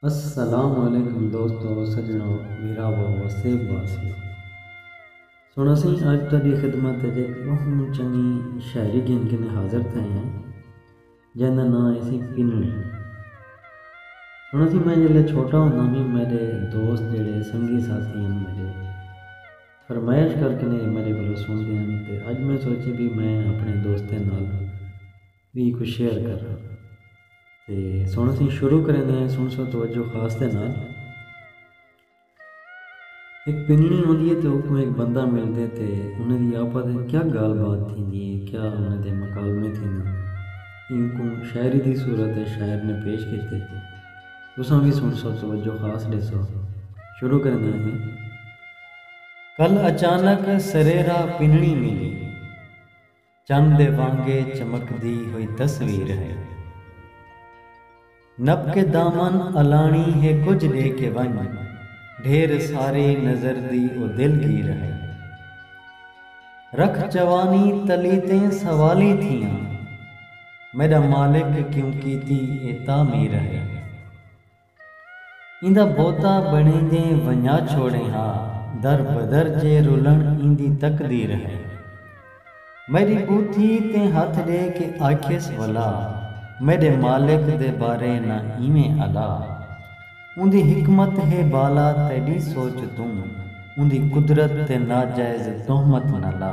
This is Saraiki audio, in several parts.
السلام علیکم دوستو سجنو بھراوو وسیب واسیو سن اسیں اج تہاڈی خدمت وچ ایک بہوں چنگی شاعری گھن کے حاضر تھئے ہیں جیندا ناں ہے سی پنڑی ہن اسی میں جلے چھوٹا ہوندا بھی میرے دوست جڑے سنگی ساتھی ہیں میرے فرمائش کر کے میرے کو سن دے ہیں تے اج میں سوچے بھی میں اپنے دوستیں نال وی کوں شیئر کرنا تے سن اسی شروع کریں دے سن سو توجہ خاص دے نال ایک پننی ہوندی ہے تے او کوئی ایک بندہ مل دے تے انہیں دی آپا دے کیا گال بات تھی دی ہے کیا انہیں دے مکالمے تھی دی ہے ان کو شاعری دی صورت ہے شاعر نے پیش کی تھی تھی تو سن بھی سن سو توجہ خاص دے سو شروع کریں دے ہیں کل اچانک سریرہ پننی ملی چن دے وانگے چمکدی ہوئی تصویر ہے۔ نپ کے دامن الانڑی ہے کجھ ڈے کے ونج ڈھیر ساری نظر دی او دل گیر ہے۔ رکھ جوانی تلی تیں سوالی تھیاں میڈا مالک کیوں کیتی اے تعمیر ہے۔ ایندا بھوتا بݨیندیں ونڄا چھوڑیں ہا در بدر جے رلݨ ایندی تقدیر ہئی میݙی پوتھی تیں ہتھ ݙے کے آکھیس ولا میݙے مالک دے بارے نہ ایویں الا اوندی حکمت ہے بالا تیݙی سوچ توں اوندی قدرت تے ناجائز تہمت نہ لا۔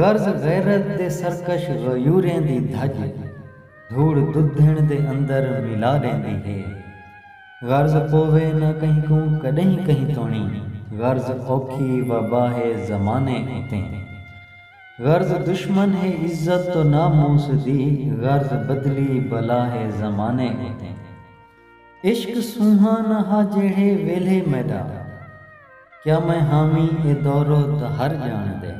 غرض غیرت دے سرکش غیوریں دی دھڄ دھوڑ ددھݨ دے اندر ملا ݙیندی ہے۔ غرض پووے نہ کہیں کوں کݙہیں کہیں توݨی غرض اوکھی وبا ہے زمانے اتے غرض دشمن ہے عزت و ناموس دی غرض بدلی بلا ہے زمانے اتے۔ عشق سونہاں نہ ہا جیڑھے ویلھے میݙا کیا میں ہاویں اے دورو دہر ڄاݨ دے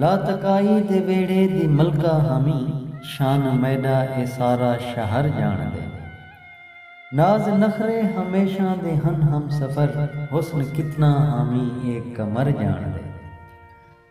لا تکائی دے ویڑھے دی ملکہ ہاویں شان میݙا اے سارا شہر ڄاݨ دے ناز نخرے ہمیشاں دے ہن ہمسفر حسن کتنا ہاویں اے قمر ڄاݨ دے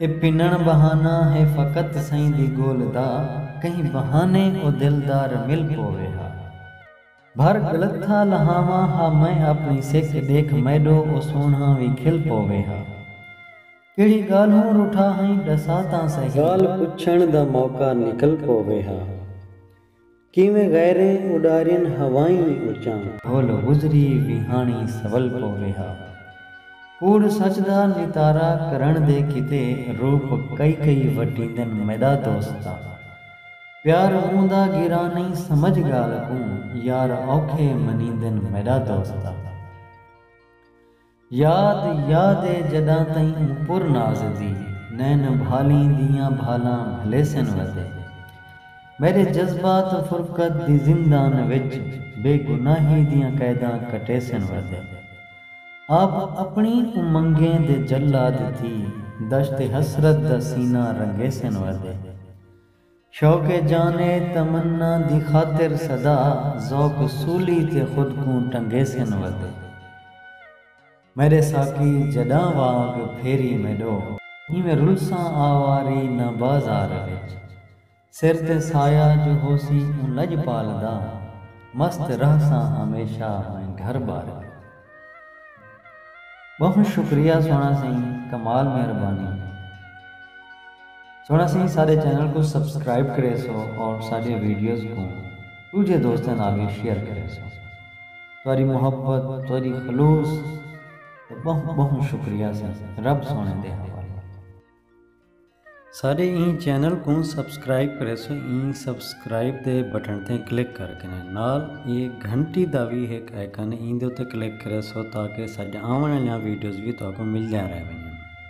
اے پنݨ بہانہ ہے فقط سئیں دی گول دا کہیں بہانے او دلدار مل پووے ہا بھر ڳلتھا لہاواں ہا میں آپݨی سک ݙیکھ میݙو او سوہݨا وی کھل پووے ہا کیڑھی ڳالھوں روٹھا ہئیں ݙسا تاں سہی۔ ڳالھ پچھݨ دا موقع نکل پووے ہا۔ کیویں غیریں اݙارین ہوائیں اچاں۔ بھول گزری ویہاݨی سول پووے ہا۔ کوڑ سچ دا نتارا کرݨ دے کیتے روپ کئی کئی وٹیندن میݙا دوستا۔ پیار مونہہ دا گراں نئیں سمجھ ڳالھ کوں یار اوکھے منیندن میݙا دوستا۔ یاد یاد اے جڈاں تئیں اوں پر ناز دی نین بھالیں دیاں بھالاں بھلیسن وتے میڈے جذبات فرقت دی زندان وچ بے گناہی دیاں قیداں کٹیسن وتے آپ اپنی امنگیں دے جلاد تھی دشت حسرت دا سینہ رنگیسن وتے۔ شوق جان ء تمنا دی خاطر سدا ذوق سولی تے خود کوں ٹنگیسن ودے میڈے ساقی جڈاں واگ پھیری میڈو۔ ایویں رلساں آواری نہ بازار وچ سر تے سایہ جو ہوسی اوں لجپال دا مست رہساں ہمیشہ میں گھر بار وچ۔ بہوں شکریہ سوہنہ سئیں کمال مہربانی سوہنہ سئیں ساڈے چینل کوں سبسکرائب کریسو اور ساڈے ویڈیوز کوں ڈوجھے دوستاں نال وی شیئر کریسو تہاڈی محبت تہاڈی خلوص دا بہوں بہوں شکریہ سئیں رب سوہنے دے حوالے۔ ساڈے ایں چینل کوں سبسکرائب کریسو ایں سبسکرائب دے بٹن تے کلک کر کے نال اے گھنٹی دا وی ہک آئیکن ایندے تے کلک کریسو تاکہ ساڈے آون والیاں ویڈیوز وی تہاکوں ملدیاں رہون